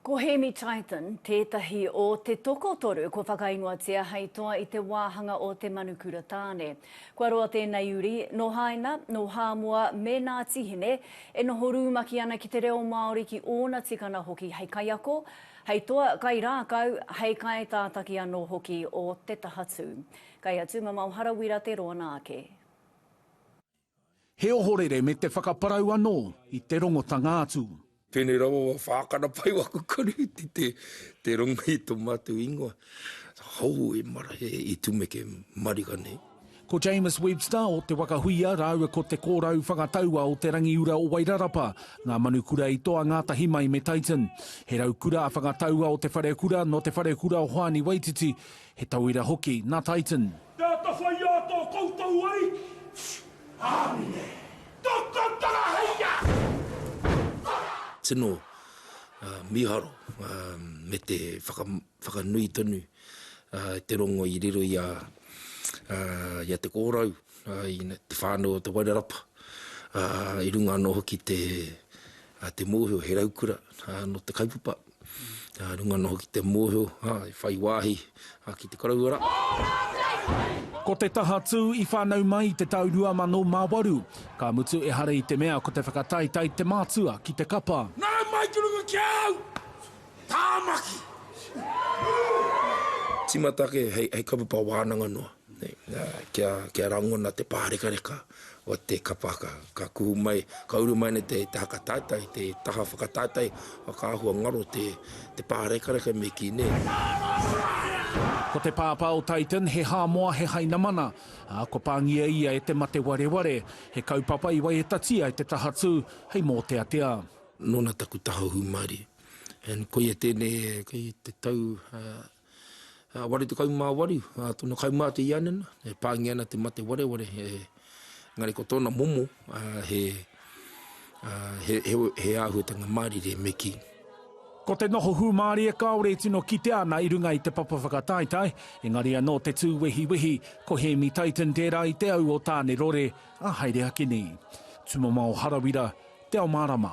Ko Hēmi Tython tētahi o te tokotoru kua whakaingoatia hei toa i te wāhanga o Te Manukura Tāne. Kua roa tēnei uri, nō Haina, nō Hāmoa me Nāti Hine, e noho rūmaki ana ki te reo Māori ki ōna tikana hoki hei kaiako, hei toa kairākau, hei kaitātaki anō hoki o te taha tū. Kei a Tūmamao Harawira te roa nā ake. He ohorere me te whakaparau anō i te rongotanga atu. Tēnei rawa wa whākana pai waku karihiti te te rongo i to matou ingoa. Hou e mara he i tumeke mariga nei. Ko James Webster o Te Waka Huia rāua ko Te Kōrau Whangataua o Te Rangiura o Wairarapa ngā manu kura i toa ngātahi mai me Tyton. He raukura a Whangataua o Te Wharekura nō Te Wharekura o Hoani Waititi, He tauira hoki nā Titan. Te atawhai a to koutou Ariki. Amine. To koutou hei a. Kara. Tino miharo me te whakanui tonu te rongo i riro i a Te Korau, i te whānau o Te Wairarapa, i runga ano hoki te mohio he raukura no te kaupapa. Nā runga noho ki te mōhio, ā, i whai wāhi, ā, ki te koroua rā. Ko te taha tū i whānau mai i te tau 2008, ka mutu ehara i te mea ko te whakataetae te mātua ki te kapa. Nā mai ki runga ki a au, Tāmaki! Tīmata ake hei kaupapa wānanga noa. Kia rangona te pārekareka o te kapa ka kuhu mai, ka uru mai nei te haka taetae, te taha whakataetae, whakaahua ngaro te pārekareka me kī nei. Ko te pāpā o Titan he Hāmoa, he Hainamana, ā, kua pāngia ia e te mate wareware, he kaupapa i waiatatia e te Tahatū hei mōteatea. Nōna taku taha hūmārie. And koia tēnei, kei te tau 88 ā tōna kaumātua i a Anena, e pāngia ana te mate wareware, engari ko tōna momo he āhuatanga mārire me kī. Ko te noho hūmārie kāore e tino kitea ana i runga i te papa whakataetae, engari anō te tū wehiwehi, ko Hēmi Tyton tērā i te au o Tāne Rore, a Haere Akini. Tumamao Harawira, Te Ao Mārama.